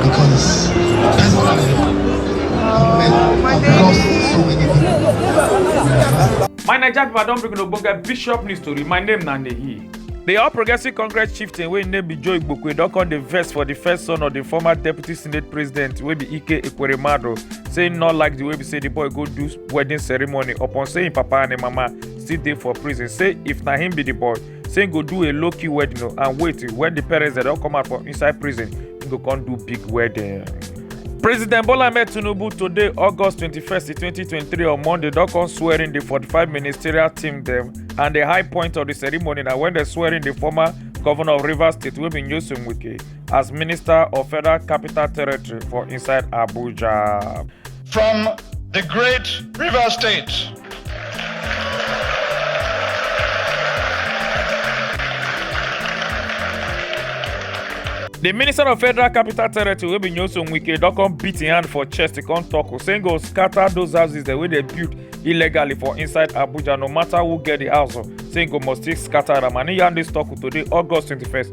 Because that's what I know. My Naija people, I don bring una ogbonge bishop news tori. My name na Nehi. The All Progressive Congress chieftain wey name be Joe Igbokwe don come dey vex for the first son of the former deputy senate president wey be Ike Ekweremadu say im no like the way be say the boy go do wedding ceremony upon say im papa and im mama still dey for prison say if na him be the boy say he go do a low key wedding o and wait when the parents dem don come out from inside prison he go come do big wedding. President Bola Ahmed Tinubu today, August 21st, 2023, on Monday, don come swear in the 45 ministerial team dem, and the high point of the ceremony na when they swear in the former governor of Rivers State, wey be Nyesom Wike, as minister of Federal Capital Territory for inside Abuja. From the great river state. The Minister of Federal Capital Territory wey be Nyesom Wike don come beat im hand for chest to come talk say im go scatter those houses dem wey dey build illegally for inside Abuja no matter who get the house o say im go must still scatter am and im yarn dis talk today August 21st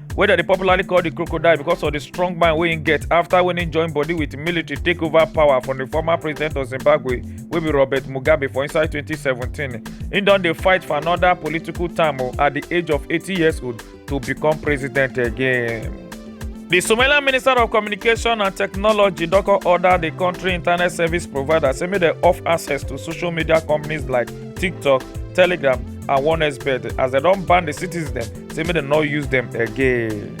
wey dem dey popularly call di crocodile because of di strong mind wey im get afta wen im join body wit military take over power from di former president of zimbabwe wey be robert mugabe for inside 2017 im don dey fight for anoda political term oh, at di age of 80 years old to become president again. The Somalian Minister of Communication and Technology don come order the country internet service provider say make dem off access to social media companies like TikTok, Telegram and OneXBet as dem don ban the citizens dem say make dem no use dem again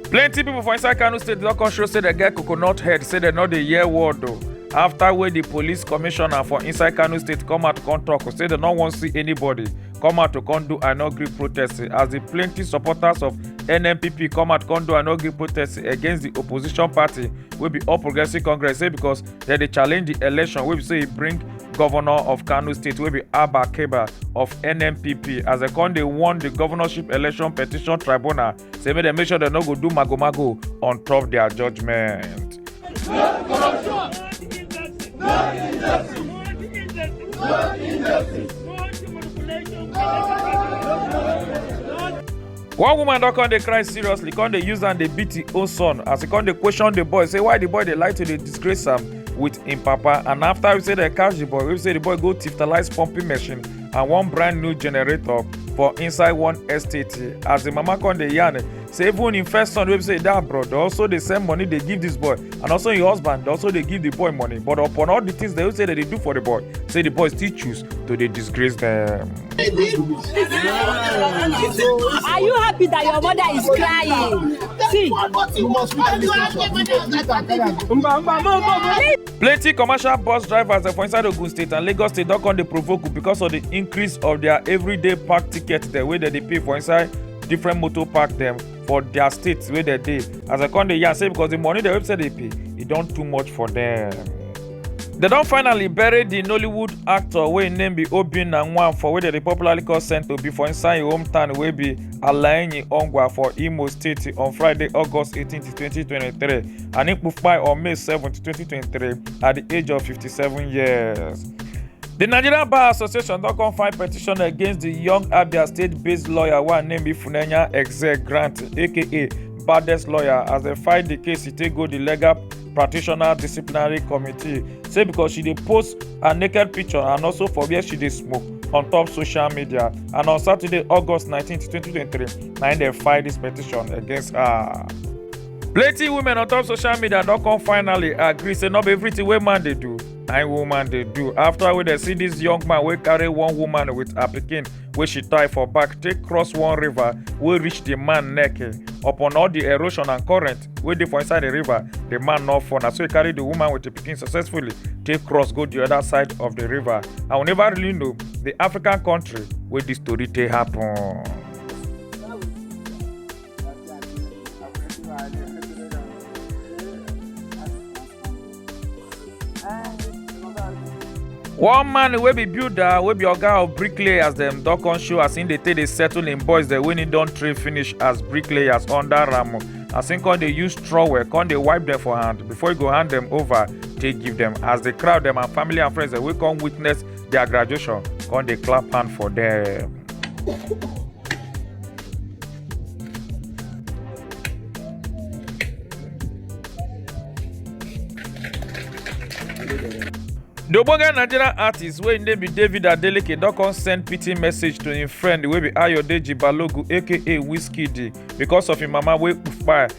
plenty people for inside kano state don come show say dem get coconut head say dem no dey hear word o after wey di police commissioner for inside kano state come out come tok say dem no wan see anybody come out to come do i no gree protest as di plenty supporters of nnpp come out come do i no gree protest against di opposition party wey be all progressives congress say because dem dey challenge di election wey be say e bring govnor of kano state wey be abba keba of nnpp as dem come dey warn di governorship election petition tribunal say make dem make sure dem no go do magomago on top dia judgement. No injustice. one woman don come dey cry seriously come dey use am dey beat im own son as e come dey question the boy say why the boy dey like to dey disgrace am with im papa and after we say dem catch the boy we say the boy go tiftalize pumping machine and one brand new generator for inside one estate as the mama come dey yarn say even im first son wey be say e dey abroad dey also dey send money dey give this boy and also im husband dey also dey give the boy money but upon all the things dem say dem dey do for the boy say the boy still choose to dey disgrace dem. Are you happy that your mother is crying? See. plenty commercial bus drivers dem for inside ogun state and lagos state don come dey provoke because of the increase of their everyday park ticket dem wey dem dey pay for inside different motor park dem for their states where they dey as i come dey yarn say because the money the website they pay it don't too much for them. They don't finally bury the nollywood actor wey im name be obinna nwanfo wey dem dey popularly call saint obi for inside im hometown wey be alaenyi ongwa for imo state on friday august 18 2023 and im kpai on may 7 2023 at the age of 57 years. di nigerian bar association don come file petition against di young abia state-based lawyer wey name be funenya exe grant aka baddest lawyer as dem file di case e take go di legal practitioner disciplinary committee say because she dey post her naked picture and also for where she dey smoke on top social media and on saturday august 19 2023 na im dem file dis petition against her. plenty women on top social media don come finally agree say no be everything wey man dey do nine woman dey do after wey dey see dis young man wey carry one woman with her pikin wey she tie for back take cross one river wey reach di man neck eh. upon all di erosion and current wey dey for inside di river di man no fall na so e carry di woman with di pikin successfully take cross go di oda side of di river and we never really know di african kontri wey dis tori take happun. one man wey be builder wey be oga of bricklayers dem don come show as im dey take dey settle im boys dem wey im don train finish as bricklayers under am as im come dey use trowel come dey wipe dem for hand before e go hand dem over take give dem as the crowd dem and family and friends dem wey come witness their graduation come dey clap hand for dem. di ogbonge nigerian artist wey im name be david adeleke don come send pity message to im friend wey be ayodeji balogun aka wizkid because of im mama wey kpai